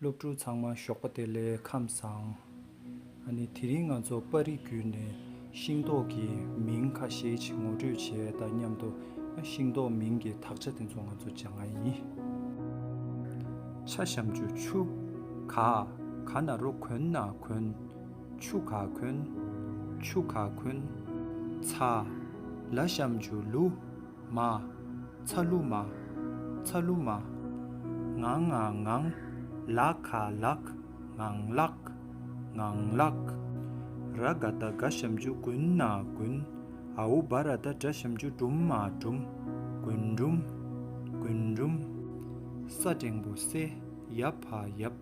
སློབ་ཕྲུག་ཚང་མ་ཞོགས་པ་དེ་ལས་ཁམས་བཟང། ཨ་ནི་དེ་རིང་ང་ཚོ་པར་རིས་བརྒྱུད་ནས་ཤིང་ཏོག་གི་མིང་ཁ་ཤས་ཤིག་ངོ་སྤྲོད་བྱས་དང་མཉམ་དུ་ཤིང་ཏོག་མིང་གི་དག་ཆ་དེ་ཚོ་ང་ཚོ་སྦྱང་ཨ་ཡིན། ཆ་བཤམ་ཆུ་ཆུ། ག་ག་ན་རོ་གོན་ན་གོན། ཆུ་ག་གོན། ཆུ་ག་གོན། ཚ། ལ་བཤམ་ཆུ་ལུ། མ། ཚ་ལུ་མ། ཚ་ལུ་མ། ངང་ང་ངང། ལ་ཁ་ལག། ངང་ལག། ངང་ལག། ར་ག་ད་ག་བཤམ་རྒྱུ་དགུན་ན་དགུན། ཨ་ཨུ་བ་ར་ད་དགྲ་བཤམ་རྒྱུ་སྦྲུམ་མ་སྦྲུམ། དགུན་སྦྲུམ། དགུན་སྦྲུམ། ས་སྒྲེང་བུ་སེ་ཡབ་བ་ཡབ།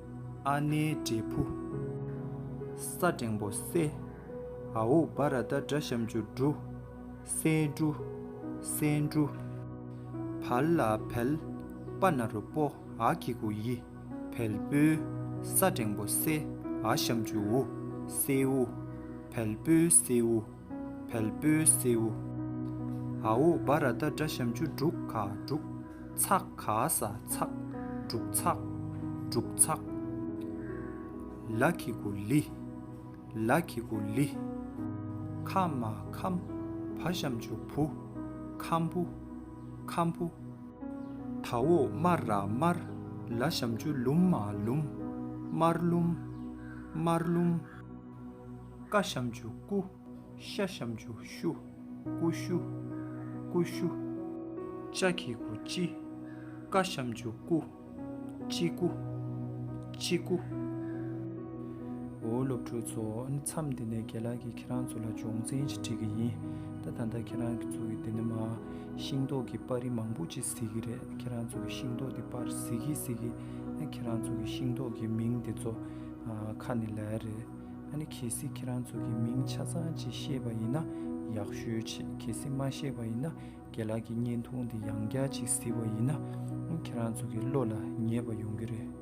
ཨ་ནེའི་འབྲས་བུ། ས་འབྲིང་པོ་སེ། ཨའུ་བ་ར་ད་དགྲ་བཤམ་ཆུ་འབྲུ། སའི་འབྲུ། སའི་འབྲུ། བལ་ལ་བལ། པ་ན་རུ་པོ་ཨ་ཁི་གུ་ཡི། བལ་པོའི། ས་འབྲིང་པོ་སེ་ཨ་བཤམ་ཆུ་འུ། སེའུ། བལ་པོའི་སེའུ། བལ་པོའི་སེའུ། ཨའུ་བཱ་ར་ཏཱ་བཛྲ་ཤམ་ཆུ་འབྲུག་ག་འབྲུག། ཚག་ག་ས་ཚག། འབྲུག་ཚག། འབྲུག་ཚག། ལ་ཁི་གུ་ལི། ལ་ཁི་གུ་ལི། ཁ་མ་ཁམ་བྷ་ཤམ་ཆུ་བུ། ཁམ་བུ། ཁམ་བུ། ཐ་འོག་དམར་ར་དམར་ལ་ཤམ་ཆུ་ལུམ་མ་ལུམ། དམར་ལུམ། དམར་ལུམ། བཀའ་བཤམས་ཆུ་སྐུ། ཤ་བཤམས་ཆུ་ཤུ། ཀུ་ཤུ། སྐུ་ཤུ། ལྕགས་ཀྱི་སྐུ་སྤྱི། བཀའ་བཤམས་ཆུ་སྐུ། སྤྱི་སྐུ། སྤྱི་སྐུ། འོ་སློབ་ཕྲུག་ཚོ་མཚམས་འདི་ནས་རྒན་ལགས་ཀྱིས་ཁྱེད་རང་ཚོ་ལ་སྦྱོང་ཚན་ཞིག་བྲིས་ཀྱི་ཡིན་ད་ད་ལྟ་ཁྱེད་རང་ཚོ་གི་འདི་ནས་མ་ཤིང་ཏོག་གི་པར་རིས་མང་པོ་ཅིག་གཟིགས་ཀྱི་རེད་ཁྱེད་རང་ཚོ་གི་ཤིང་ཏོག་དེ་པར་གཟིགས་ཀྱི་གཟིགས་ཀྱི་ཁྱེད་རང་ཚོ་གི་ཤིང་ཏོག་གི་མིང་དེ་ཚོ་ཁ་ནས་ལས་རེད། ཨ་ནི་གལ་སྲིད་ཁྱེད་རང་ཚོ་གི་མིང་ཆ་ཚང་ཅིག་ཤེས་པ་ཡིན་ན་ཡག་ཤོས་ཆེ་གལ་སྲིད་མ་ཤེས་པ་ཡིན་ན་རྒན་ལགས་ཀྱི་བརྙན་ཐུང་འདི་ཡང་བསྐྱར་ཅིག་གཟིགས་པ་ཡིན་ན་ཁྱེད་རང་ཚོ་གི་བློ་ལ་ངེས་པ་ཡོང་གི་རེད།